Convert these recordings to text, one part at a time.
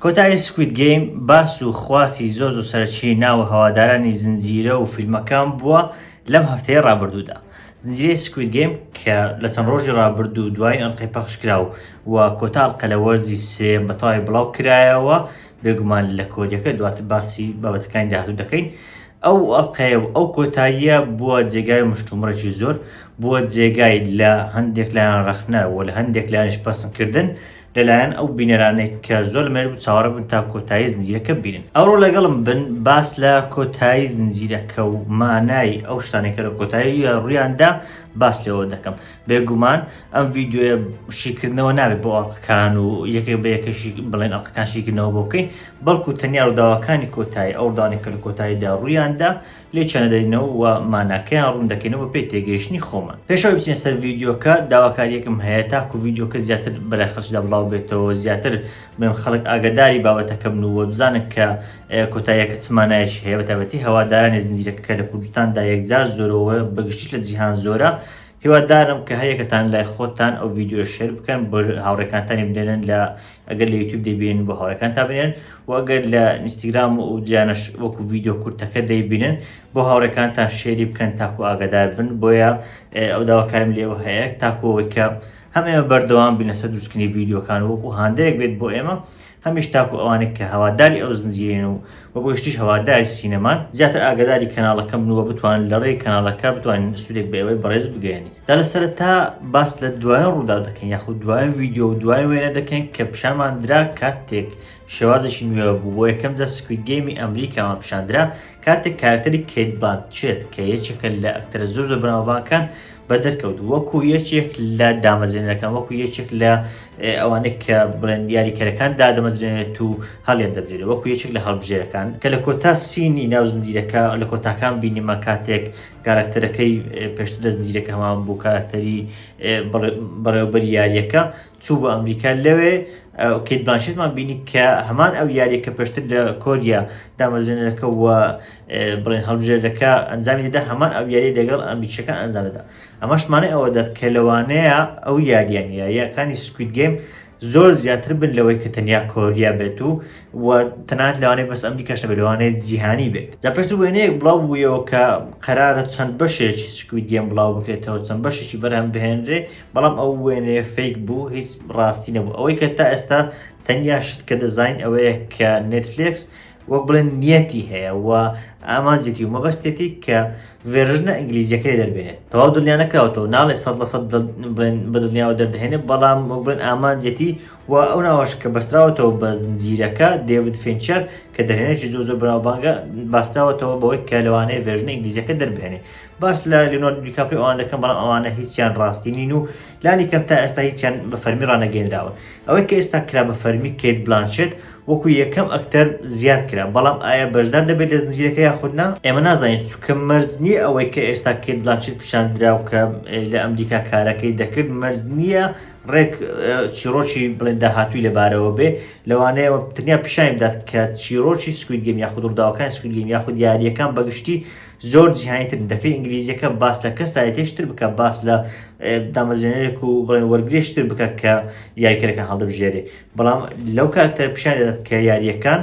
کۆتایی سکوید گەیم باس و خواسی زۆر زۆر سەرەکی ناوە هەوادارانی زنجیرە و فیلمەکان بووە لەم هەفتەیە ڕابردوودا زنجیرەی سکوید گەیم کە لە چەند ڕۆژی ڕابردوو دوای ئەڵلقەی پەخشکرا و و کۆتاڵقە لە وەرزی سێ بەتەواوی بڵاو کرایەوە بێگومان لە کۆریەکە دواتر باسی بابەتەکانی داهاتوو دەکەین ئەو ئەڵقەیە و ئەو کۆتاییە بووە جێگای مشتومڕێکی زۆر، بووە جێگای لە هەندێک لایەن ڕەخنە و لە هەندێک لایەنیش پەسندکردن لەلایەن ئەو بینەرانەی کە زۆر لەمێژ بوو چاوەڕێ بوون تا کۆتایی زنجیرەکە ببینن. ئەوڕۆ لەگەڵم بن باس لە کۆتایی زنجیرەکە و مانای ئەو شتانەی کە لە کۆتاییە ڕوویاندا باس لێوە دەکەم. بێگومان ئەم ڤیدیۆیە شیکردنەوە نابێت بۆ ئەڵقەکان و یەکێک بە یەکەشی بڵێن ئەڵقەکان شیکردنەوە بۆ بکەین، بەڵکو تەنیا ڕووداوەکانی کۆتایی ئەو ڕووداوانەی کە لە کۆتاییدا ڕوویان دا لێکیان دەدەینەوە و ماناکەیان ڕوون دەکەینەوە بەپێی تێگەیشتنی خۆمان. پێش ئەوەی بچینە سەر ڤیدیۆکە، داواکارییەکم هەیە تاکو ڤیدیۆکە زیاتر بەلای خەڵکیدا بڵاو بێتەوە و زیاتر بڵێم خەڵک ئاگاداری بابەتەکە بن و وەبزانن کە کۆتاییەکە چ مانایەکی هەیە بەتایبەتی هەوادارانی زنجیرەکە کە لە کوردستاندا یەکجار زۆرە و بەگشتیش لە جیهان زۆرە هیوادارم کە هەریەکەتان لای خۆتان ئەو ڤیددیو شێر بکەن بۆ هاوڕێکانتانی بنێنن لە ئەگەر لە یوتیوب دەبین بۆ هاوڕێکان تا بنێن و ئەگەر لە ئینستاگرام و جیانش وەکو ڤیددیو کورتەکە دەیبینن بۆ هاوڕێکان تا شێری بکەن تاکو ئاگادار بن بۆیە ئەو داواکارم لێوە هەیە تاکۆەوەی کە هەم ئێمە بەردەوام بینەسە دروستکردنی ڤیددیوکان وەکو هاندەرێک بێت بۆ ئێمە هەمیش تاکو ئەوانەی کە هەواداری ئەو زنجیرەن و وە بۆ گشتیش هەواداری سینەمان زیاتر ئاگاداری کەناڵەکەم بن وە بتوانن لە ڕێی کەناڵەکە بتوانین سودێک بە ئێوەی بەڕێز بگەیەنین جا لە سەرەتا باس لە دوایین ڕووداو دەکەین یاخود دوایین ڤیدیۆ و دوایین وێنە دەکەین کە پیشانمان درا کاتێک شێوازێکی نوێ بوو بۆ یەکەم جار سکوید گەیمی ئەمریکامان پیشاندرا کاتێک کارەکتەری کەیت بلانچێت کە یەکێکە لە ئەکتەرە زۆر زۆر بەناوبانگەکان بەدەرکەوت وەکو یەکێک لە دامەزرێنەکان وەکو یەکێک لە ئەوانێک کە بڵێن یاریکەرەکان دادەمەزرێنێت و هەڵێن دەبێت وەکو یەکێک لە هەڵبژێرەکان کە لە کۆتا سینی ناو زنجیرەکە لە کۆتاکان بینیمە کاتێک کارکتەرەکەی پێشتر لە زنجیرەکە هەمان بوو کارکتەری بەڕێوبەر یاریەکە چوو بۆ ئەمریکا لەوێ کەیت بلانشێتمان بینی کە هەمان ئەو یاریە کە پێشتر لە کۆریا دامەزرێنەرەکە و بڵێن هەڵبژێرەکە ئەنجامی دەدا هەمان ئەو یاری لەگەڵ ئەمریکیەکان ئەنجام دەدا ئەمەشمانە ئەوە دەت کە لەوانەیە ئەو یاریان یاریەکانی سکویت گەیم زۆر زیاتر بن لەوەی کە تەنیا کۆریا بێت و و تەنات لەوانەیە بەس ئەمریکاش نەبێت لەوانەیە جیهانی بێت جا پێشتر وێنەیەک بڵاو بوویەوە کە قەرارە چەند بەشێکی سکویت گەیم بڵاو بکرێتەوە چەند بەشێکی بەرهەم بهێنرێ بەڵام ئەو وێنەیە فەیک بوو هیچ ڕاستی نەبوو ئەوەی کە تا ئێستا تەنیا شت کە دەزانین ئەوەیە کە نێتفلێکس وەک بڵێن نیەتی هەیە و ئامانجێتی و مەبەستێتی کە ڤێرژنە ئینگلیزیەکەی دەربێنێت تەواو دڵنیانەکراوەوە ناڵێ سە لە سە بڵێن بە دڵنیاوە دەردەێنێت بەڵام وەک بڵێن ئامانجێتی و ئەو ناوەش کە بەستراوەتەوە بە زنجیرەکە دەیوت فینچەر کە دەهێنێکی زۆ زۆر بناوبانگە باستراوەتەوە بەوەی کە لەوانەیە ڤێرژنە ئینگلیزیەکە دەربێنێ باس لە لیۆناردۆ دیکاپریۆ ئەوان دەکەن بەڵام ئەوانە هیچیان ڕاستی نین و لانی کەم تا ئێستا هیچیان بە فەرمی ڕانەگەێنراوە ئەوەی کە ئێستا کرا بە فەرمی کەیت بلانشێت وەکو یەکەم ئەکتەر زیاد کرا بەڵام ئایا بەشدار دەبێت لە زنجیرەکە یاخودنا ئێمە نازانین چکە مەرج نییە ئەوەی کە ئێستا کەیت بلانشێت پیشاندراو کە لە ئەمریکا کارەکەی دەکرد مەرج نییە ڕێک چیرۆکی بڵێن داهاتووی لەبارەوە بێ لەوانەیە تنیا پیشانی بدات کە چیرۆکی سکویدگەم یاخود ڕداوەکان سکویدگەم یاخود یاریەکان بەگشتی زۆر جیهانی تر دەکرێت ئینگلیزیەکە باس لە کەسایەتێشتر بکە باس لە دامەزێنێک و بڵێن وەرگێشتر بکە کە یاریکەرەکە هەڵدەبژێرێ بەڵام لەو کارکتەر پیشان دەدات کە یاریەکان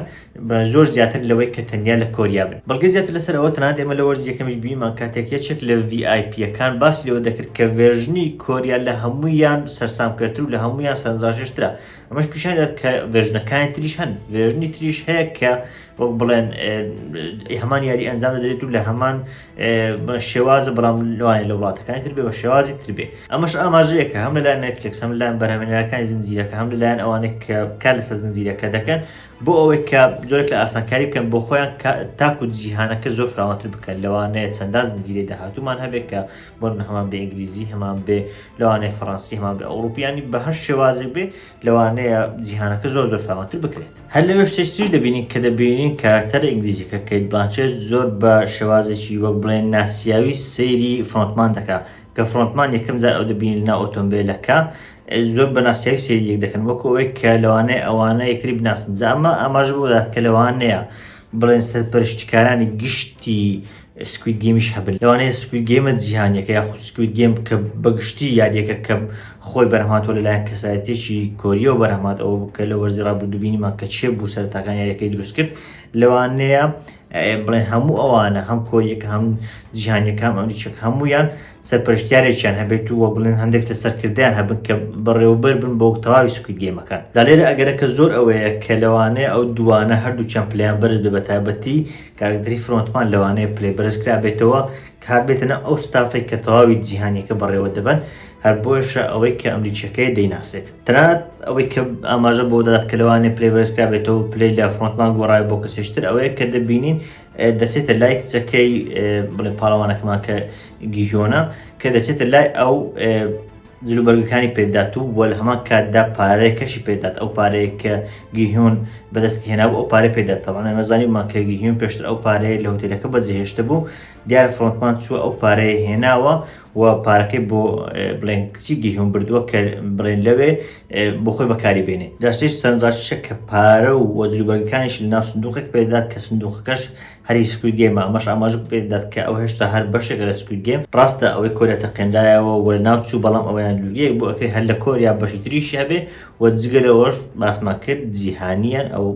زۆر زیاتر لەوەی کە تەنیا لە کۆریا بن بەڵگە زیاتر لەسەر ئەوە تەنات ئێمە لە وەرز یەکەمیش بیمان کاتێک یەکێک لە VIPەکان باسی لەوە دەکرد کە ڤێژنی کۆریا لە هەموویان سەرسام کردتر و لە هەموویان سەرنجڕاکێشترا ئەمەش پیشان دەدات کە ڤێژنەکانی تریش هەن ڤێژنی تریش هەیە کە وەک بڵێن هەمان یاری ئەنجام دەدرێت و لە هەمان شێوازە بەڵام لەوانێت لە وڵاتەکانی تر بێ بە شێوازی تر بێ ئەمەش ئاماژەیەکە هەم لەلایەن نێتفلکس هەم لەلایەن بەرهەمێنەرەکانی زنجیرەکە هەم لەلایەن ئەوانێک کە کار لەسەر زنجیرەکە دەکەن بۆ ئەوەی کە جۆرێک لە ئاسانکاری بکەن بۆ خۆیان تاکو جیهانەکە زۆر فراوانتر بکەن لەوانەیە چەندان زنجیرەی داهاتومان هەبێت کە بۆ هەمان بە ئینگلیزی هەمان بێ لەوانەیە فەڕەنسی هەمان بە ئەوروپیانی بە هەر شێوازێک بێ لەوانەیە جیهانەکە زۆر زۆر فراوانتر بکرێت هەر لەوێ شتێکتریش دەبینین کە دەبینین کاراکتەرە ئینگلیزیەکە کەیت بلانچێت زۆر بە شێوازێکی وەک بڵێن ناسیاوی سەیری فرۆنتمان دەکا کە فرۆنتمان یەکەم جار ئەو دەبینین لە ناو ئۆتۆمبیلەکە زۆر بە ناسیاوی سەیری یەک دەکەن وەکو ئەوەی کە لەوانەیە ئەوانە یەکتری بناسن جا ئەمە ئاماژە بۆ دەدات کە لەوانەیە بڵێن سەرپەرشتکارانی گشتی سکوید گەیمیش هەبن لەوانەیە سکوید گەیمە جیهانیەکە یاخود سکوید گەیم کە بەگشتی یاریەکە کە خۆی بەرهەماتۆ لەلایەن کەسایەتێکی کۆریەوە بەرهەمات ئەوە کە لە وەرزی ڕابردوو بینیمان کە چێ بوو سەرتاکان یاریەکەی دروست کرد لەوانەیە بڵێن هەموو ئەوانە هەم کۆریەکە هەم جیهانیەکان ئەمریچەک هەمویان سەرپەرشتیارێکیان هەبێت و وە بڵێن هەندێک لە سەرکردیان هەبن کە بەڕێوبەر بن بۆ تەواوی سکوید گەیمەکان دەلێرە ئەگەرەکە زۆر ئەوەیە کە لەوانەیە ئەو دوانە هەردووچەند پلیان بەرز بە تایبەتی کاک دری فرۆنتمان لەوانەیە پلەی بەرز کرابێتەوە کە هاتبێتە ناو ئەو ستافەی کە تەواوی جیهانیەکە بەڕێوە دەبەن، هەر بۆیەشە ئەوەی کە ئەمریکیەکەیە دەیناسێت. تەنانەت ئەوەی کە ئاماژە بەوە دەدات کە لەوانەیە پلەی بەرز کرابێتەوە و پلەی لە فرۆنتمان گۆڕاوێت بۆ کەسێکی تر ئەوەیە کە دەبینین دەچێتە لای کچەکەی بڵێ پاڵەوانەکەمان کە گیهیۆنە کە دەچێتە لای ئەو جلوبەرگەکانی پێدات و وە لەهەمان کاتدا پارەکەشی پێدات ئەو پارەیە کە گیهیون بەدەستی هێنابوو ئەو پارەی پێدات تەوان ئێمە زانیمان کە گیهیون پێشتر ئەو پارەیە لە هوتێلەکە بەجێهێشتە بوو دیارە فرۆنتمان چووە ئەو پارەیە هێناوە و پارەکەی بۆ بڵێن کچی گیهیون بردووە کە بڵێن لەوێ بۆ خۆی بەکاری بێنێ دەشتیش سەرنجڕاکیشە کە پارە و وەجلوبەرگەکانیش لە ناو سندوقێک پێدات کە سندوقەکەش هەری سکوید گەیمە ئەمەش ئاماژە بکرێت دەت کە ئەو هێشتا هەر بەشێک لە سکوید گەیم ڕاستە ئەوەی کۆریا تەقێنرایەوە و لە ناو چوو بەڵام ئەوەیان دوورگەیەک بۆ ئەکرێت هەر لە کۆریا بەشی تریشی هەبێ و جگە لەوەش باسمان کرد جیهانیان ئەو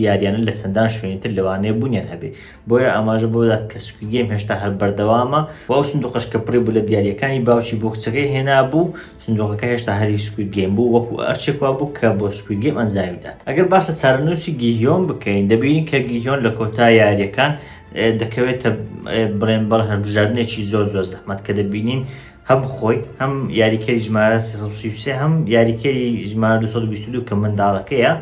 یاریانە لە چەندان شوێنی تر لەوانەیە بوونیان هەبێ بۆیە ئاماژە بۆ دەدات کە سکوید گەیم هێشتا هەر بەردەوامە و ئەو سندوقەش کە پڕی بوو لە دیارییەکانی باوکی بۆ کچەکەی هێنابوو سندوقەکە هێشتا هەر هی سکوید گەیم بوو وەکو ئەرچێک وا بوو کە بۆ سکوید گەیم ئەنجامی بدات ئەگەر باس لە چارەنووسی گیهیۆن بکەین دەبینین کە گیهیۆن لە کۆتا یاریەکان دەکەوێتە بڵێن بەڵ هەربژاردنێکی زۆر زۆر زەحمەت کە دەبینین هەم خۆی هەم یاریکەری ژمارە 3 هەم یاریکەری ژمارە 222 کە منداڵەکەیە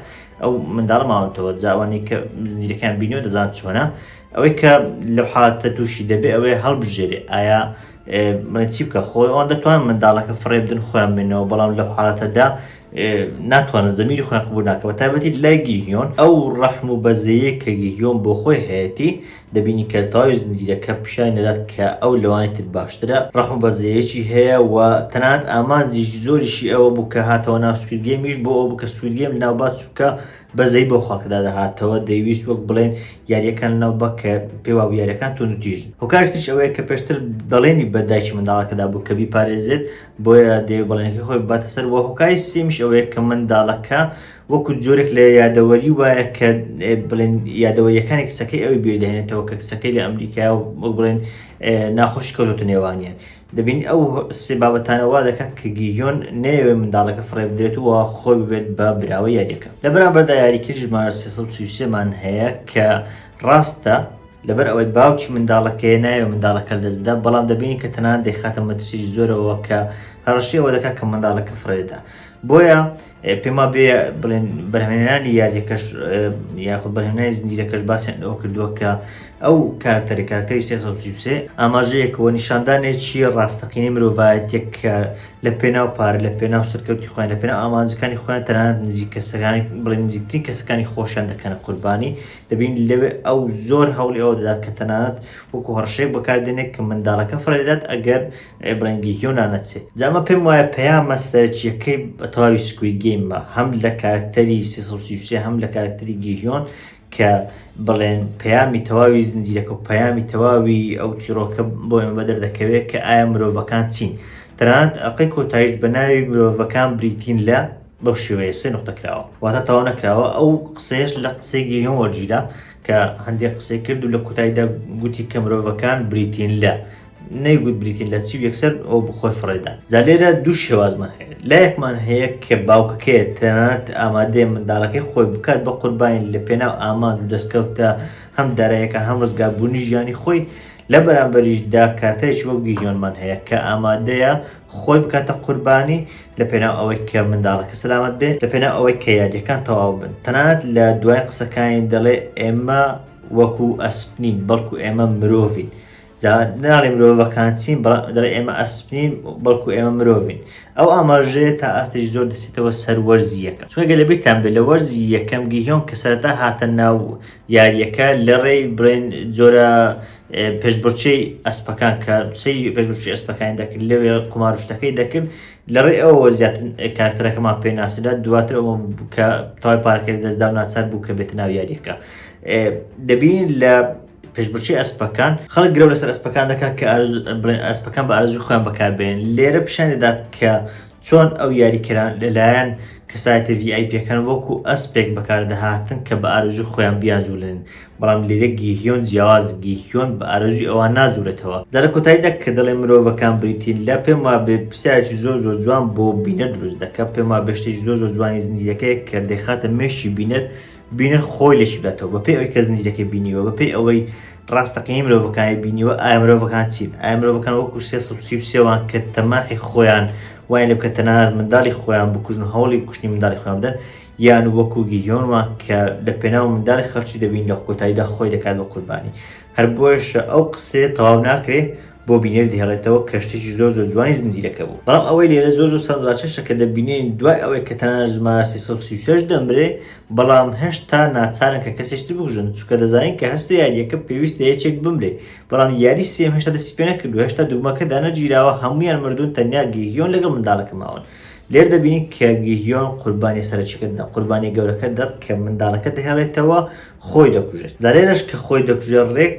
ئەو منداڵ ماونتەوە جاوانی کە زیرەکان بینەوە دەزان چۆنە ئەوەی کە لە حالتە تووشی دەبێ ئەوەیە هەڵبژێرێ ئایا بڵێن چی بکە خۆی ئەوان دەتوان منداڵەکە فڕێ بدن خۆیان بینەوە بەڵام لە حالەتەدا ناتوانن زمینی خۆیان قبول ناکە بە تایبەتی لای گیهیۆن ئەو ڕەحم و بەزەیە کە گیهیۆن بۆ خۆی هەیەتی دەبینی کە تاوی زنجیرەکە پیشانی دەدات کە ئەو لەوانی تر باشترە ڕەحم بەزەیەکی هەیە و تەنات ئامانجی زۆریشی ئەوە بوو کە هاتەوە ناو سوودگەمیش بۆ ئەو بکە سوودگەم لەناوبات چووکە بەزەیی بەو خەڵکەدا دەهاتەوە دەیویست وەک بڵێن یاریەکان لەناو بە کە پێوا بوو یاریەکان تون و تیژ هۆکارش تریش ئەوەیە کە پێشتر بەڵێنی بە دایکی منداڵەکەدا بوو کە بیپارێزێت بۆیە دەیەوێت بەڵێنەکەی خۆی بباتە سەر و هۆکاری سێمیش ئەوەیە کە منداڵەکە وەکو جۆرێک لە یادەوەری وایە کە ئێ، بڵێن یادەوەریەکانی کچەکەی ئەوی بیردەهێنێتەوە کە کچەکەی لە ئەمریکایە و وەک بڵێن ئێ، ناخۆشی کەوتۆتە نێوانیان دەبینی ئەو سێ بابەتانە وا دەکەن کە گیهیۆن نەیەوێت منداڵەکە فڕێ بدرێت و خۆی ببێت بە براوە یاریەکە لە بەرامبەردا یاریکرد ژمارە 333 مان هەیە کە ڕاستە لەبەر ئەوەی باوکی منداڵەکەی ناوێ منداڵەکە دەست بدە بەڵام دەبینی کە تەنان دەیخاتە مەترسی زۆرەوە کە هەڕشی ئەوە دەکات کە منداڵەکە فڕێدا بۆیە پێما بێ بڵێن بەرهێنانی یاریەکەش یاخود بەرهێنای زنجیرەکەش باسیان ئەوە کردووە کە ئەو کارکتەری کارکتەری سێسەسوسێ ئاماژەیەکەوە نیشاندانێکی ڕاستەقینی مرۆڤایەتێک کە لە پێناو پارە لە پێناو سەرکەوتی خۆیان لە پێناو ئامانجەکانی خۆیان تەنانەت نزیک کەسەکانی بڵێن نزیکترین کەسەکانی خۆشیان دەکەنە قوربانی دەبین لەوێ ئەو زۆر هەوڵی ئەوە دەدات کە تەنانەت وەکو هەڕشێک بەکاردێنێک کە منداڵەکە فڕێدات ئەگەر ئەی بڕێنگی هیۆنا نەچێ جا ئەمە پێم وایە پەیامە سەرەکیەکەی بە تەواوی سکوید گەیمە هەم لە کارکتەری سێ سەد و سی و سێ هەم لە کارکتەری گیهیۆن کە بڵێن پەیامی تەواوی زنجیرەکە و پەیامی تەواوی ئەو چیرۆکە بۆ ئێمە بەدەر دەکەوێت کە ئایا مرۆڤەکان چین تەنانەت ئەقەی کۆتایش بە ناوی مرۆڤەکان بریتین لە بەو شێوەیە سێ نقطە کراوە واتە تەواو نەکراوە ئەو قسەیەش لە قسەی گیهیۆن وەرگیرا کە هەندێک قسەی کرد و لە کۆتاییدا گوتی کە مرۆڤەکان بریتین لە نەیگوت بریتین لە چی و یەکسەر ئەو بخۆی فڕێدا جا لێرە دوو شێوازمان هەیە لایەکمان هەیە کە باوکەکەیە تەنانەت ئامادەیە منداڵەکەی خۆی بکات بە قوربانی لە پێناو ئامانج و دەستکەوتە هەم دارایەکان هەم ڕزگاربوونی ژیانی خۆی لە بەرامبەریشدا کارتەرێکی وەک گیژۆنمان هەیە کە ئامادەیە خۆی بکاتە قوربانی لە پێناو ئەوەی کە منداڵەکە سەلامەت بێت لە پێناو ئەوەی کە یادەکان تەواو بن تەنانەت لە دوای قسەکانی دەڵێ ئێمە وەکو ئەسپنین بەڵکو ئێمە مرۆڤین جا ناڵێ مرۆڤەکان چین بەڵام دەڵێ ئێمە ئەسپین بەڵکو ئێمە مرۆڤین ئەو ئاماژەیە تا ئاستێکی زۆر دەسێتەوە سەر وەرزی یەکەم چونگە لە بیرتان بێت لە وەرزی یەکەم گیهۆن کە سەرتا هاتە ناو یاریەکە لە ڕێی برێن جۆرە پێشبچەی ئەسپەکان کە سەی پێشبچی ئەسپەکانی دەکرد لەوێ قمارشتەکەی دەکرد لە ڕێ ئەوە زیاتر کارکتەرەکەمان پێناسرا دواتر ئەوە کە تای پارکرد دەستدا و ناچار بوو کە بێت ناو یاریەکە دەبین لە پێشبڕکێی ئەسپەکان، خەڵک گرەو لەسەر ئەسپەکان دەکات کە بڵێن ئەسپەکان بە ئارەزوی خۆیان بەکاربێن لێرە پیشان دەدات کە چۆن ئەو یاریکەران لەلایەن کەسایەتە VIP یەکان وەکو ئەسپێک بەکاردەهاتن کە بە ئارەزوی خۆیان بیانجوولێن بەڵام لێرە گیهیۆن جیاواز گیهیۆن بە ئارەزوی ئەوان ناجوولێتەوە جا لە کۆتاییدا کە دەڵێ مرۆڤەکان بریتین لە پێم وابێ پرسیارێکی زۆر زۆر جوان بۆ بینەر دروست دەکات پێم وابێ شتێکی زۆر زۆر جوانی زنجیرەکەیە کە دەیخاتە مێشکی بینەر بینەر خۆی لێکی بداتەوە بەپێی ئەوەی کە زنجیرەکەی بینیوە بەپێی ئەوەی ڕاستەقینەی مرۆڤەکانی بینیوە ئایا مرۆڤەکان چین ئایا مرۆڤەکان وەکو سێ سەد و سی و سێوان کە تەماحی خۆیان وایان لێ بکە تەنانەت منداڵی خۆیان بکوژن و هەوڵی کوشتنی منداڵی خۆیان بدەن یان وەکو گیهیۆن وان کە لە پێناو منداڵی خەڵکی دەبین لە کۆتاییدا خۆی دەکات بە قوربانی هەر بۆیەشە ئەو قسەیە تەواو ناکرێ بۆ بینەر دهێڵێتەوە کە شتێکی زۆر زۆر جوانی زنجیرەکە بوو بەڵام ئەوەی لێرە زۆر زۆر سەرنجڕاکێشە کە دەبینین دوای ئەوەی کە تەنانەت ژمارە 336 دەمرێ بەڵام هێشتا ناچارن کە کەسێکی تر بکوژن چونکە دەزانین کە هەر سێ یارییەکە پێویستە یەکێک بمرێ بەڵام یاری سێم هێشتا دەستی پێ نەکردووە هێشتا دوگمەکە دانەگیراوە هەموویان مردوون تەنیا گیهیۆن لەگەڵ منداڵەکە ماون لێر دەبینین کە گیهیۆن قوربانی سەرەکیەکە دەدا قوربانی گەورەکە دەت کە منداڵەکە دەهێڵێتەوە خۆی دەکوژێت لە لێرەش کە خۆی دەکوژێت ڕێک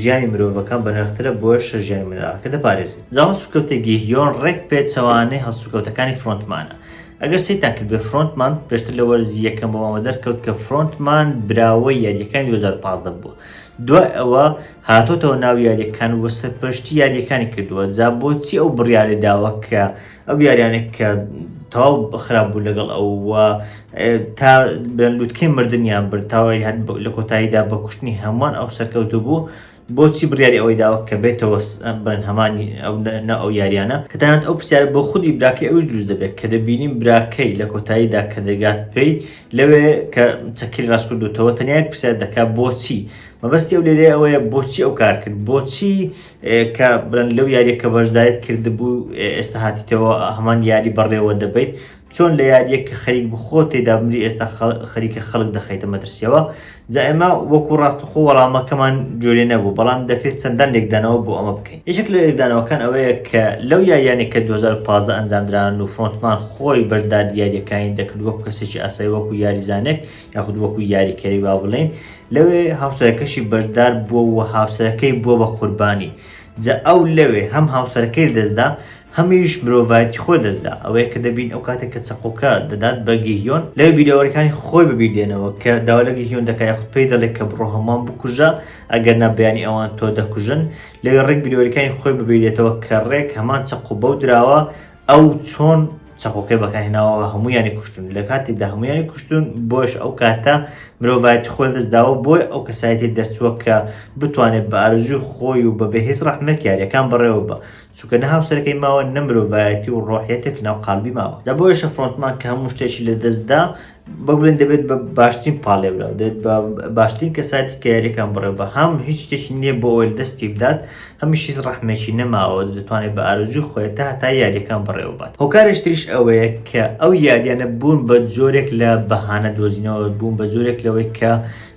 ژیانی مرۆڤەکان بەنرخترە بۆیەشە ژیانی منداڵەکە دەپارێزێت جا هەڵسوکەوتە گیهیۆن ڕێک پێچەوانەی هەڵسوکەوتەکانی فرۆنتمانە ئەگەر سەیرتان کردبێت فرۆنتمان پێشتر لە وەرزی یەکەم بۆمەوە دەرکەوت کە فرۆنتمان براوەی یاریەکانی 2015 بووە دوای ئەوە هاتۆتەوە ناو یاریەکان و سەرپەرشتی یاریەکانی کردووە جا بۆچی ئەو بڕیارەی داوە کە ئەو یاریانێک کە تەواو خراپ بوو لەگەڵ ئەو تا بەن لوتکەی مردیان بر تاوای هەر لە کۆتاییدا بە کوشتنی هەمووان ئەو سەرکەوتو بوو بۆچی بڕیاری ئەوەی داوە کە بێتەوە بن هەمانی ئەو نە ئەو یاریانە کە دەیانات ئەو پرسیار بۆ خودی براکەی ئەوش دروست دەبێت کە دەبینیم براکەی لە کۆتاییدا کە دەگات پێی لەوێ کە چەکیل ڕاستکردوتەوە تەنیا پرسیار دەکات بۆچی مەبەستی ئەو لێرێ ئەوەیە بۆچی ئەو کار کرد بۆچی کە بڵێن لەو یاریە کە بەشدایت کردبوو ئێستا هاتیتەوە هەمان یاری بەڕێوە دەبیت چۆن لە یاریەک کە خەریک بخۆ تێدا بمری ئێستا خەریکە خەڵک دەخەیتە مەترسیەوە جا ئێمە وەکو ڕاستەخۆ وەڵامەکەمان جۆرێ نەبوو بەڵام دەکرێت چەندان لێکدانەوە بۆ ئەمە بکەین یەکێک لە لێکدانەوەکان ئەوەیە کە لەو یاریانێک کە 2015 ئەنجامدران و فرۆنتمان خۆی بەشداری یاریەکانی دەکرد وەکو کەسێکی ئاسایی وەکو یاریزانێک یاخود وەکو یاریکەری وا بڵێین لەوێ هاوسەرەکەشی بەشدار بووە و هاوسەرەکەی بووە بە قوربانی جا ئەو لەوێ هەم هاوسەرەکەی دەستدا هەمیش مرۆڤایەتی خۆی دەستدا ئەوەیە کە دەبین ئەو کاتێک کە چەقۆکە دەدات بە گیهیۆن لەوێ بیرەوەریەکانی خۆی بەبیر دێنەوە کە داوا لە گیهیۆن دەکات یاخود پێی دەڵێت کە بڕۆ هەمووان بکوژە ئەگەر نا بەیانی ئەوان تۆ دەکوژن لەوێ ڕێک بیرەوەریەکانی خۆی بەبیر دێتەوە کە ڕێک هەمان چەقۆ بەو دراوە ئەو چۆن چەقۆکەی بەکارهێناوە هەمویانی کوشتون لە کاتێکدا هەمویانی کوشتون بۆش ئەو کاتە مرۆڤایەتی خۆل دەستداوە بۆی ئەو کەسایەتی دەرچووە کە بتوانێت بە ئارزوی خۆی و بە بەهێز ڕەحمەک یاریەکان بەڕێوە بە چونکە نە هاوسەرەکەی ماوە نە مرۆڤایەتی و ڕۆحیەتێک ناو قالبی ماوە لە بۆیشە فڕۆنتمان کە هەموو شتێکی لە دەستدا بە بڵێن دەبێت بە باشترین پاڵێبراو دێت بە باشترین کەساتی کە یاریەکان بڕێ بە هەم هیچ شتێکی نییە بۆ ئەوەل دەستی بدات هەمیشیز ڕحمێکی نەماوە دەتوانێت بە ئارزوی خۆێت تا هەتا یاریەکان بڕێوبات هۆکارشتریش ئەوەیە کە ئەو یاریانە بوون بە جۆرێک لە بەهانە دۆزینەوە بوون بە جۆرێک لەوەی کە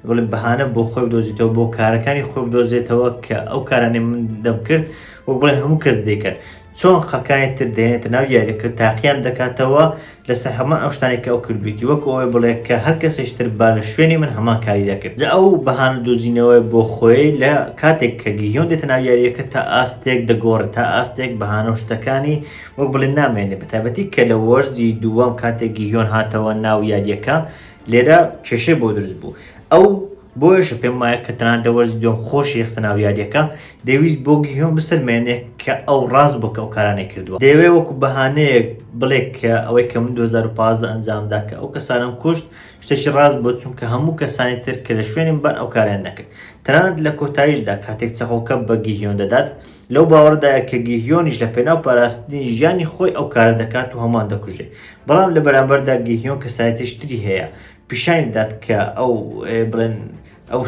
بڵێ بەهانە بۆ خۆی دۆزیتەوە بۆ کارەکانی خۆ دۆزێتەوە کە ئەو کارانێ من دەمکرد وەک بڵێن هەموو کەس دەکرد چۆن خەکای تر دێنێتە ناو یاریەکە تاقیان دەکاتەوە لەسەر هەمان ئەو شتانێک کە ئەو کردویتی وەکو ئەوەی بڵێ کە هەر کەسێش تر با لە شوێنی من هەمان کاری دەکرد جا ئەو بەهانە دۆزینەوەی بۆ خۆی لە کاتێک کە گیهیۆن دێتە ناو یاریەکە تا ئاستێک دەگۆڕێت تا ئاستێک بەهانە و شتەکانی وەک بڵێ نامێنێ بە تایبەتی کە لە وەرزی دووەم کاتێک گیهیۆن هاتەوە ناو یاریەکە لێرە کێشەی بۆ دروست بوو ئەو بۆیەشە پێم وایە کە تەنانەت لە وەرزی دووەم خۆشی خستە ناو یاریەکە دەویست بۆ گیهۆن بسەلمێنێ کە ئەو ڕاست بووە کە ئەو کارانەی کردووە دەیەوێ وەکو بەهانەیەک بڵێ کە ئەوەی کە من 2015 ئەنجامدا کە ئەو کەسانم کوشت شتێکی ڕاست بۆ چونکە هەموو کەسانی تر کە لە شوێنم بەر ئەو کاریان نەکرد تەنانەت لە کۆتاییشدا کاتێک چەقۆکە بە گیهیۆن دەدات لەو باوەڕدایە کە گیهیۆنیش لە پێناو پاراستنی ژیانی خۆی ئەو کارە دەکات و هەمان دەکوژێ بەڵام لە بەرامبەردا گیهیۆن کەسایەتیش تری هەیە پیشانی دەدات کە ئەو بڵێن ئەو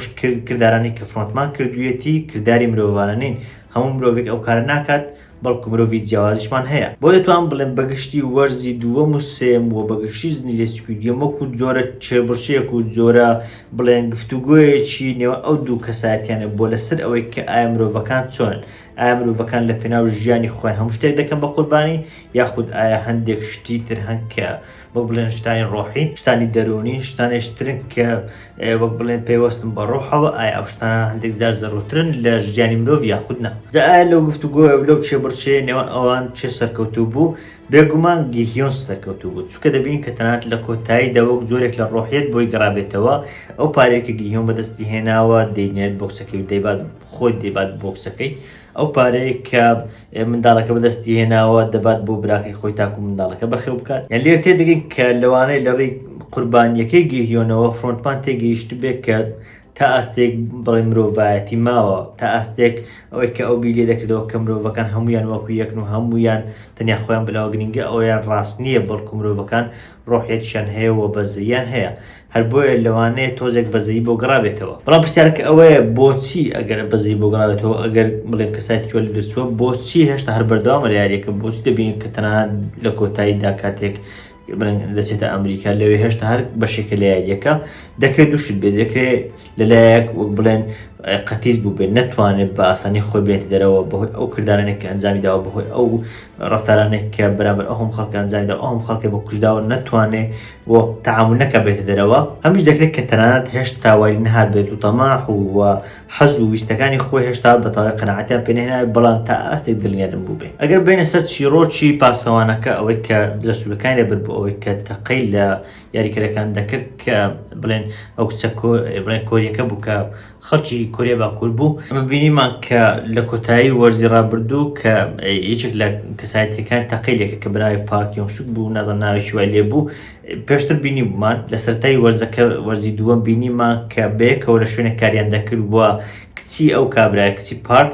کردارانی کە فرۆنتمان کردویەتی کردداری مرۆڤانە نین هەموو مرۆڤێک ئەو کارە ناکات بەڵکو مرۆڤی جیاوازیشمان هەیە بۆ دەتوان بڵێن بەگشتی وەرزی دووە مسێم و بەگشتی زنی لێسکی دیەمەکو جۆرە چێبڕشەیەک و جۆرە بڵێن گفتوگوۆیەکی نێوە ئەو دوو کەسایەتیانە بۆ لەسەر ئەوەی کە ئایا مرۆڤەکان چۆن ئایا مرۆڤەکان لە پێناو ژیانی خۆیان هەموو شتێک دەکەن بە قوربانی یاخود ئایا هەندێک شتی تر هەنکە بۆ بڵێن شتانی ڕۆحی شتانی دەرونی شتانی شترن کە وەک بڵێن پێوەستم بە ڕۆحەوە ئایا ئەو شتانە هەندێک زار زەڕوترن لە ژیانی مرۆڤ یاخود نا جا ئایا لەو گفت و گۆە لەو چێ بڕچێ نێوان ئەوان چێ سەرکەوتوو بوو بێگومان گیهیۆن سەرکەوتوو بوو چکە دەبین کە تەنات لە کۆتایی دەوەک جۆرێک لە ڕۆحیت بۆی گەڕابێتەوە ئەو پارێکە گیهیۆن بەدەستی هێناوە دەینێت بۆکسەکەی دەیبات خۆی دەیبات بۆکسەکەی و ئەو پارەیە کە منداڵەکە بەدەستی هێناوە دەبات بۆ براکەی خۆی تاکو منداڵەکە بەخێو بکات یان لێر تێدەگەین کە لەوانەیە لە ڕێی قوربانیەکەی گەهیۆنەوە فۆنتمان تێگەیشت بێت کە تا ئاستێک بڵێ مرۆڤایەتی ماوە تا ئاستێک ئەوەی کە ئەو بیلێ دەکردەوە کە مرۆڤەکان هەمویان وەکو یەکن و هەمویان تەنیا خۆیان بلاوە گرنگە ئەویان ڕاست نییە بەڵکو مرۆڤەکان ڕۆحێکیان هەیە و بەزەیان هەیە هەر بۆیە لەوانەیە تۆزێک بەزەیی بۆ گەڕابێتەوە. بەڵام پرسیارەکە ئەوەیە بۆچی ئەگەر بەزەیی بۆ گەڕابێتەوە، ئەگەر بڵێین کە سایتی تۆ لەدەستچووە، بۆچی هێشتا هەر بەردەوامە لە یارییەکە؟ بۆچی دەبینین کە تەنها لە کۆتاییدا کاتێک بڵێن دەچێتە ئەمریکا، لەوێ هێشتا هەر بەشێکە لە یارییەکە؟ دەکرێت دوو شت بێت، دەکرێت لەلایەک وەک بڵێن قەتیز بوو بێت نەتوانێت بە ئاسانی خۆی بێت دەرەوە بەهۆی ئەو کردارانێک کە ئەنجامی داوە بەهۆی ئەو ڕفتارانێک کە بەرامبەر ئەوم خەڵکە ئەنجامیدا ئەوم خەڵکە بە کوشداوە نەتوانێ بۆ تعامل نەکە بێتە دەرەوە هەمیش دەکرێت کە تەنانەت هێشت تاواری نهات بێت و تەماح و حەز و ویستەکانی خۆی هێشتا بەتاوای قەنەعاتیان پێنێنە بەڵام تا ئاستێک دڵنیادم بوو بێ ئەگەر بینە سەر چیرۆکی پاسەوانەکە ئەوەی کە دەسوولەکانی لەبەر بۆ ئەوەی کە تەقەی لە یاریکەرەکان دەکرد کە بڵێن ئەو کچە بڵێن کۆریەکە بوو کە خەڵکی کۆریە باکوور بوو ئەمە بینیمان کە لە کۆتایی وەرزی ڕابردوو کە یەکێک لە کەسایەتەکان تەقی لێکە کە بناوی پارکیۆن شک بوو نازان ناوێکی وای لێ بوو پێشتر بینی بوومان لە سەرای وەرزەکە وەرزی دووەم بینیمان کە بەیەکەوە لە شوێنە کاریان دەکرد وە کچی ئەو کابراە کچی پارک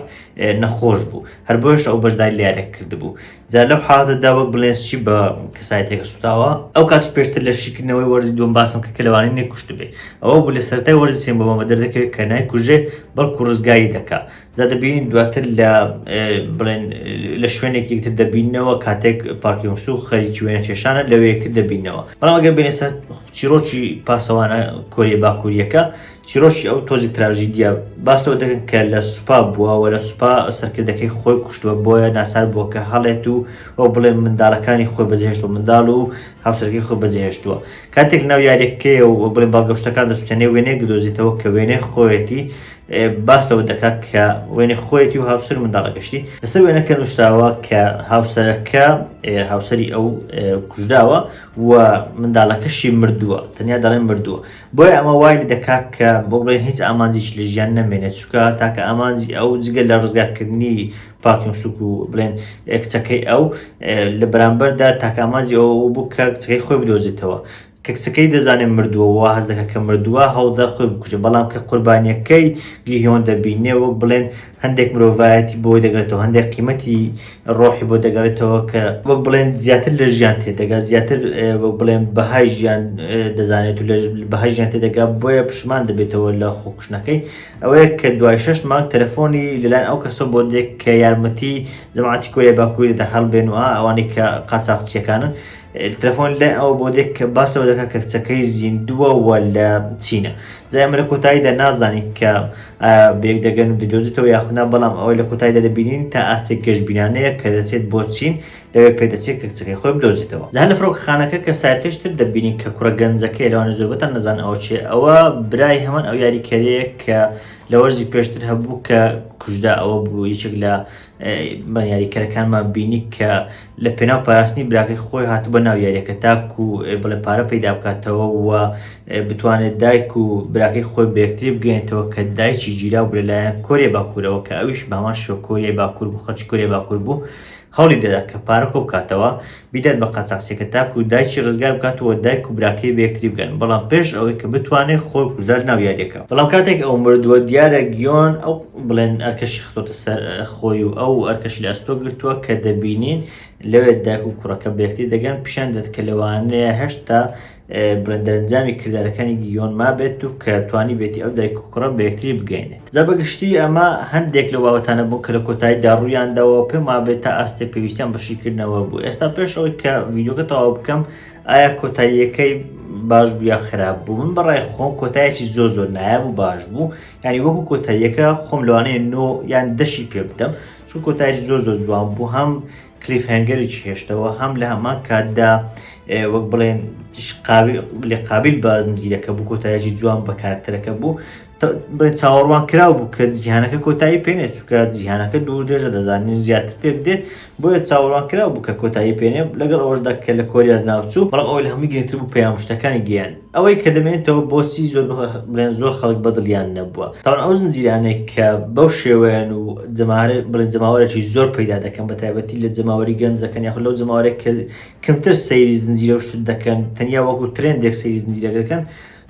نەخۆش بوو هەر بۆش ئەو بەشداری لارێک کردبوو جا لەو حاڵەتەدا وەک بڵێن سچی بە کەسایەتێکە سوتاوە ئەو کاتی پێشتر لە شیکردنەوەی وەرزی دوم باسم کە کەلەوانی نەکوشت بێ ئەوە بوو لە سەرای وەرزی سێن بۆمە دەردەکەوێت کە نایکوژێ بەڵکو ڕزگاری دەکا جا دەبین دواتر لە بڵێن لە شوێنێک یەکتر دەبینەوە کاتێک پارکیۆنسو خەریکی وێنە کێشانە لەوێ یەکتر دەبینەوە بەڵام ئەگەر بێنێ سەر چیرۆکی پاسەوانە کۆریە باکووریەکە چیرۆکی ئەو تۆزی تراژیدیا باس لەوە دەکەن کە لە سوپا بووە و لە سوپا سەرکردەکەی خۆی کوشتووە بۆیە ناچار بووە کە هەڵێت و ئەو بڵێ منداڵەکانی خۆی بەجێهێشت و منداڵ و هاوسەرەکەی خۆی بەجێهێشتووە کاتێک ناو یاریەکەی و بڵێ بەڵگەشتەکان دەسوتێنێ وێنەیەک دۆزیتەوە کە وێنەی خۆیەتی باس لەوە دەکات کە وێنە خۆیەتی و هاوسەر منداڵە گەشتی لەسەر وێنەکە نووسراوە کە هاوسەرەکە هاوسری ئەو کوژراوە و منداڵەکەشی مردووە تەنیا دەڵێن مردووە بۆیە ئەمە وای دەکات کە بڵێن هیچ ئامانجیش لە ژیان نەمێنێت چکە تاکە ئامانجی ئەو جگە لە ڕزگارکردنی پاکیۆن سوک و بڵێن کچەکەی ئەو لە بەرامبەردا تاکامانجی ئەو بوو کە کچەکەی خۆی بدۆزێتەوە کە کچەکەی دەزانێت مردووە واز دەکە کە مردووە هەوڵدا خۆی بکوژە بەڵام کە قوربانیەکەی گیهۆن دەبینێ وەک بڵێن هەندێک مرۆڤایەتی بۆی دەگرێتەوە، هەندێک قیمەتی ڕۆحی بۆ دەگەڕێتەوە کە وەک بڵێن زیاتر لە ژیان تێدەگات، زیاتر وەک بڵێن بەهای ژیان دەزانێت و لە بەهای ژیان تێدەگا، بۆیە پشمان دەبێتەوە لە خۆکوشتنەکەی. ئەوەیە کە دوای شەش مانگ تەلەفۆنی لەلایەن ئەو کەسەوە بۆ دێت کە یارمەتی جەماعەتی کۆریای باکووری دەدا هەڵبێن و ئەوانەی کە قاچاغچییەکانن، تەلەفۆن لای ئەو بۆ دێک کە باس لەوە دەکات کە کچەکەی زیندووە و لە چینە جای ئەمە لە کۆتاییدا نازانین کە بێک دەگەن و دەدۆزیتەوە یاخنا بەڵام ئەوە لە کۆتاییدا دەبینین تا ئاستێک گەشتبینانەیە کە دەچێت بۆ چین لەوێ پێدەچێت کە کچەکەی خۆی بدۆزیتەوە جا لە فڕۆکەخانەکە کە ساتێشتر دەبینین کە کوڕە گەنجەکەی لەوانە زۆربەتان نەزان ئەو چێ ئەوە برای هەمان ئەو یاریکەرەیە کە لە وەرزی پێشتر هەبوو کە کوژدا ئەوە بوو یەکێک لە بە یاریکەرەکانمان بینی کە لە پێناو پاراستنی براکەی خۆی هات بە ناو یاریەکە تاک و بڵێ پارە پەیدا بکاتەوە و بتوانێت دایک و براکەی خۆی بەکتری بگەێنێتەوە کە دایکی گیرا بێ لایەن کۆریە باکوورەوە کە ئەویش بامان شۆکۆریە باکوور بوو خەچ کورێ باکوور بوو هەوڵی دەدا کە پارە کۆ بکاتەوە بیدات بە قاچاخچیەکە تاکو دایکی ڕزگار بکات و دایک و براکەی بەیەکتری بگەن بەڵام پێش ئەوەی کە بتوانێت خۆی کوژرا لەناو یاریەکە بەڵام کاتێک ئەو مردووە دیارە گیۆن ئەو بڵێن ئەرکەشی خستۆتە سەر خۆی و ئەو ئەرکەشی لە ئەستۆ گرتووە کە دەبینین لەوێت دایک و کوڕەکە بەیەکتری دەگەن پیشان دێت کە لەوانەیە هەشتا بەدەرەنجامی کردارەکانی گیۆن مابێت و کە توانی بێتی ئەو دایک و کوڕە بەیەکتری بگەینێت جا بەگشتی ئەمە هەندێک لە باوەتانە بوو کە لە کۆتایی داڕوویانداوە پێم وابێت تا ئاستێ پێویستیان بەشیکردنەوە بوو ئێستا پێش ئەوەی کە ڤیددیوکە تەواو بکەم ئایا کۆتاییەکەی باش بوو یا خراپ بوو من بەڕای خۆم کۆتایەکی زۆ زۆر نایاب و باش بوو ینی وەکو کۆتاییەکە خۆم لەوانەیە نۆ یان دەشی پێ بدەم چون کۆتایش زۆ زۆر جوان بوو هەم کلیف هەنگەرێکی هێشتەوە هەم لە هەمان کاتدا وەک بڵێن لە قابل بازنجیرەکە بوو کۆتایەکی جوان بە کارکتەرەکە بوو چاوەڕوان کراو بوو کە جیهانەکە کۆتایی پێێ چکە جیهانەکە دوور درێژە دەزانین زیاتر پێک دێت بۆیە چاوەڕوان کراو بوو کە کۆتایی پێێ لەگەڵ ئەوەشدا کە لە کۆریار ناوچوو بەڵام ئەو لە هەمووی گرنگتر بوو پەیام شتەکانی گەیان ئەوەی کە دەمێنێتەوە بۆچی زۆر بڵێن زۆر خەڵک بەدڵیان نەبووە تاوان ئەو زنجیرانێک کە بەو شێوەیەن و جەمارە بڵێن جەماوەرێکی زۆر پەیدا دەکەن بە تایبەتی لە جەماوەری گەنجەکەن یاخود لەو جەماوەرێک کە کەمتر سەیری زنجیرە شت دەکەن تەنیا وەکو ترندێک سەیری زنجیرەکە دەکەن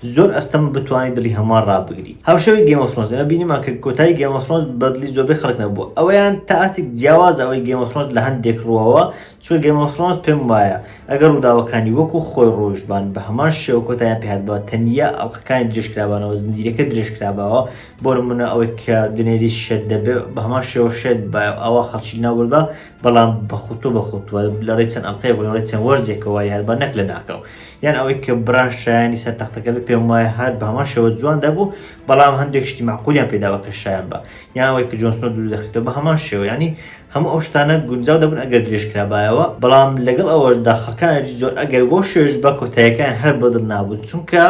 زۆر ئەستەم بتوانانی دڵی هەمووان ڕابگری هاوشەوی گەمەفرۆنس ئەمە بینیمان کە کۆتای گەمەفرۆنس بەدلی زۆربەی خەڵک نەبووە ئەویان تا ئاستێک جیاوازەوەی گەمەفرۆنس لە هەندێک ڕوەوە چونکە گەیم ئۆف ثرۆنس پێم وایە ئەگەر ڕووداوەکانی وەکو خۆی ڕۆیشتبان بە هەمان شێوە کۆتایان پێهاتبا تەنیا ئەڵقەکانی درێژکرابانەوە زنجیرەکە درێژکراباوە بۆ نمونە ئەوەی کە دنێریس شێت دەبێ بە هەمان شێوە شێت بایە ئەوا خەڵکی لەناو بردبا بەڵام بە خوتوە بە خوتوە لە ڕێی چەند ئەڵقەیەک و لە ڕێی چەند وەرزێکەوە وای هاتبا نەک لەناکاو یان ئەوەی کە بران شایەنی سەر تەختەکە بێ پێم وایە هەر بە هەمان شێوە جوان دەبوو بەڵام هەندێک شتی مەعقولیان پێدابا کە شایەن با یان ئەوەی کە جۆن سنۆ دوور دەخریتەوە بە هەمان شێوە یانی هەموو ئەو شتانە گونجاو دەبوون ئەگەر درێژ کرابایەوە، بەڵام لەگەڵ ئەوەشدا خەڵکانێکی زۆر ئەگەر بەو شێوەیەش بە کۆتاییەکەیان هەر بە دڵ نابوون، چونکە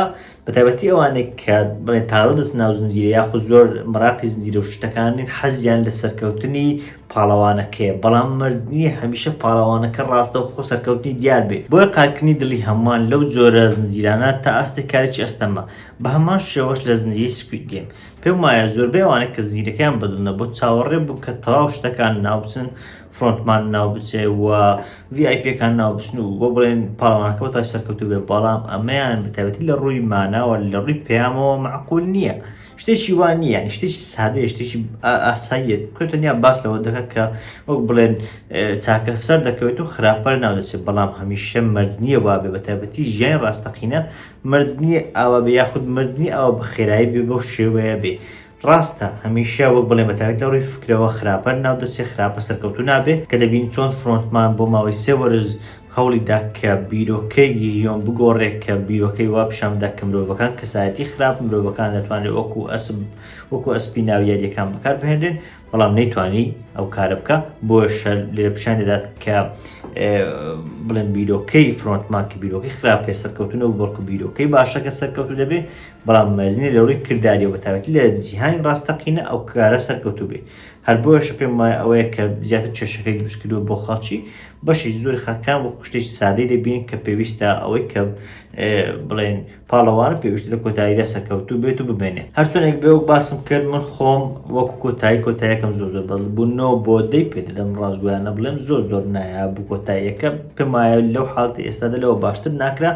بە تایبەتی ئەوانەی کە بڵێ تازە دەچنە ناو زنجیرە یاخود زۆر مەراقی زنجیرە و شتەکان نین حەزیان لە سەرکەوتنی پاڵەوانەکەیە، بەڵام مەرج نییە هەمیشە پاڵەوانەکە ڕاستەوخۆ سەرکەوتنی دیار بێت، بۆیە قالکردنی دڵی هەمووان لەو جۆرە زنجیرانە تا ئاستێک کارێکی ئەستەمە، بە هەمان شێوەش لە زنجیرەی سکوید گەیم. پێم وایە زۆربەی ئەوانەی کە زیرەکیان بەدڵنە بۆ چاوەڕێ بوو کە تەواو شتەکان ناوبچن فرۆنتمان ناوبچێ و VIPەکان ناوبچن و بۆ بڵێن پاڵەوانەکە بۆ تای سەرکەوتو بێ بەڵام ئەمەیان بەتابەتی لە ڕووی ماناوە لە ڕووی پەیامەوە معقول نییە شتێکی وا نییە ینی شتێکی سادەیە شتێکی ئاساییە کە تەنیا باس لەوە دەکات کە وەک بڵێن چاکە سەر دەکەوێت و خراپەر ناودەچێت بەڵام هەمیشە مەرج نییە وابێ بەتابەتی ژیانی ڕاستەقینە مردنی ئاوا بێ یاخود مردنی ئاوا بە خێرایی بێ بەو شێوەیە بێ ڕاستە هەمیشە وەک بڵێن بە تایبەت لە ڕووی فکرەوە خراپە ناو دەستێ خراپە سەرکەوتوو نابێ کە دەبینین چۆن فرۆنتمان بۆ ماوەی سێ وەرز هەوڵی دا کە بیرۆکەی گیهیۆن بگۆڕێ کە بیرۆکەی وا پیشان بدا کە مرۆڤەکان کەسایەتی خراپ مرۆڤەکان دەتوانرێ وەکوو ئەسپ وەکوو ئەسپی ناو یارییەکان بەکار بهێنرێن بەڵام نەیتوانی ئەو کارە بکە بۆش لێ پیشان دەدات کە بڵێن بیرۆکەی فرۆنتمان کە بیرۆکی خراپ پێ سەرکەوتنە و بەڵکو بیرۆکەی باشەکە سەرکەوتو دەبێ بەڵام مەزنی لەوەی کردداری و بەتاوەتی لە جیهانی ڕاستەقینە ئەو کارە سەرکەوتو بێ هەر بۆش پێم وایە ئەوەیە کە زیاتر چێشەکەی دروست کردو بۆ خەڵکی بەشی زۆر خەکان و کوشتێک سادەی دەبین کە پێویستە ئەوەی کە بڵێن پاڵەوانە پێویستە لە کۆتاییدا سەرکەوتوو بێت و بمێنێت هەرچۆنێک بێ وەک باسم کرد من خۆم وەکو کۆتایی کۆتایەکەم زۆر زۆر بەڵ بوو نۆ بۆ دەی پێ دەدەم ڕاستگویانە بڵێم زۆر زۆر نایە بوو کۆتاییەکە پێمایە لەو حاڵتی ئێستادا لەوە باشتر ناکرا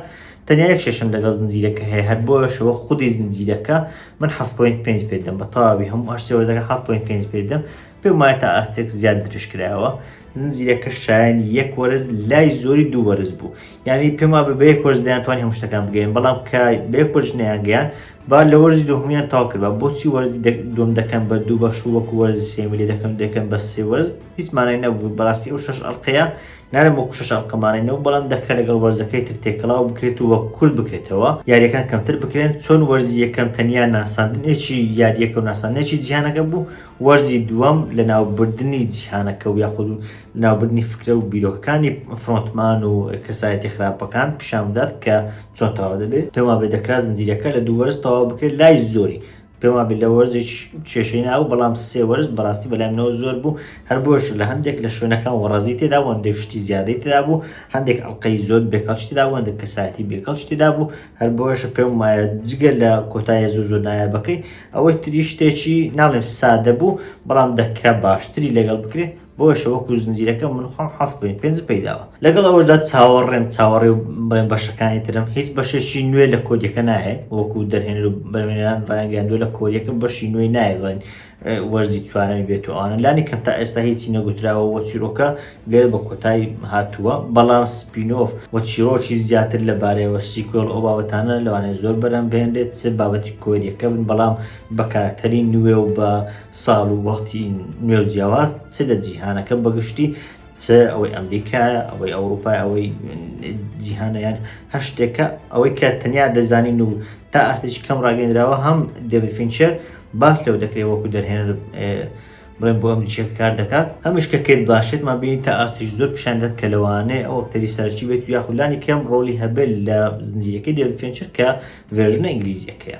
تەنیا یەک شەشم لەگەڵ زنجیرەکە هەیە هەر بۆشەوە خودی زنجیرەکە من ح پوین پێ پێدەم بە تاوی هەموو هەرسێوەردەکە ح پوین پێ پێدەم پێم وایە تا ئاستێک زیاد درشکراوە زنجیرەکە شایانی یەک وەرز لای زۆری دوو وەرز بوو یانی پێم وابێ بە یەک وەرز دەیانتوانی هەموو شتەکان بگەین بەڵام کە بە یەک وەرز نەیانگەیان با لە وەرزی دوهمیان تاو کرد بە بۆچی وەرزی دوم دەکەن بە دوو بەش و وەکو وەرزی سێمی لێ دەکەن دەکەن بە سێ وەرز هیچ مانای نەبوو بەڕاستی ئەو شەش ئەڵقەیە نارم وەکو شەش ئەڵقەمانەینەوە بەڵام دەکرێت لەگەڵ وەرزەکەی تر تێکەڵاو بکرێت و وە کورد بکرێتەوە یاریەکان کەمتر بکرێن چۆن وەرزی یەکەم تەنیا ناساندنێکی یاریەکە و ناساندنێکی جیهانەکە بوو وەرزی دووەم لە ناوبردننی جیهانەکە و یاخود و لەناوبردنی فکرە و بیرۆکەکانی فرۆنتمان و کەسایەتیە خراپەکان پیشان بدات کە چۆن تەواو دەبێت، پێم وابێت دەکرا زنجیرەکە لە دوو وەرز تەواو بکرێت لای زۆری پێم وابێت لە وەرزێکیش کێشەی نابوو، بەڵام سێ وەرز بەڕاستی بەلای منەوە زۆر بوو، هەر بۆیەشە لە هەندێک لە شوێنەکان وەڕەزی تێدا بوو، هەندێک شتی زیادەی تێدا بوو، هەندێک ئەڵقەی زۆر بێکەڵکی تێدا بوو، هەندێک کەسایەتی بێکەڵکی تێدا بوو، هەر بۆیەشە پێم وایە جگە لە کۆتاییە زۆر زۆر نایابەکەی ئەوەی تریش شتێکی ناڵێم سادە بوو، بەڵام دەکرا باشتری لەگەڵ بکرێت. بۆیشە وەکو زنجیرەکە من خۆم حەفت پوین پێنج پەیداوە لەگەڵ ئەوەشدا چاوەڕێم چاوەڕێ و بڵێن بەشەکانی ترم هیچ بەشێکی نوێ لە کۆدیەکە نایە وەکو دەرهێنەر و بەرمێنان ڕایانگەاندووە لە کۆریەکە بەشی نوێی نایە بڵێن وەرزی چوارەمی بێت و ئەوانە لانی کەم تا ئێستا هیچی نەگوتراوە وە چیرۆکە گەل بە کۆتایی هاتووە بەڵام سپینۆف وە چیرۆکی زیاتر لەبارەیەوە سیکۆل ئەو بابەتانە لەوانەیە زۆر بەرەم بهێنرێت چ بابەتی کۆریەکە بن بەڵام بە کارکتەری نوێ و بە ساڵ و وەختی نوێ و جیاواز چ لە جیهانەکە بەگشتی چ ئەوەی ئەمریکایە ئەوەی ئەوروپای ئەوەی جیهانیان هەر شتێکە ئەوەی کە تەنیا دەزانین و تا ئاستێکی کەم ڕاگەندراوە هەم دەوی فینچەر باس لەو دەکرێت وەکو دەرهێنەر بڵێن بۆ ئەمریکیەکە کار دەکات هەمیش کە کرد باشێتمان بینی تا ئاستیش زۆر پیشاندەت کە لەوانەیە ئەو ئەکتەری سەرچی بێت و یاخولانی کەم ڕۆلی هەبێت لە زنجیرەکەی دەوی فینچەر کە ڤێژنە ئینگلیزیەکەیە.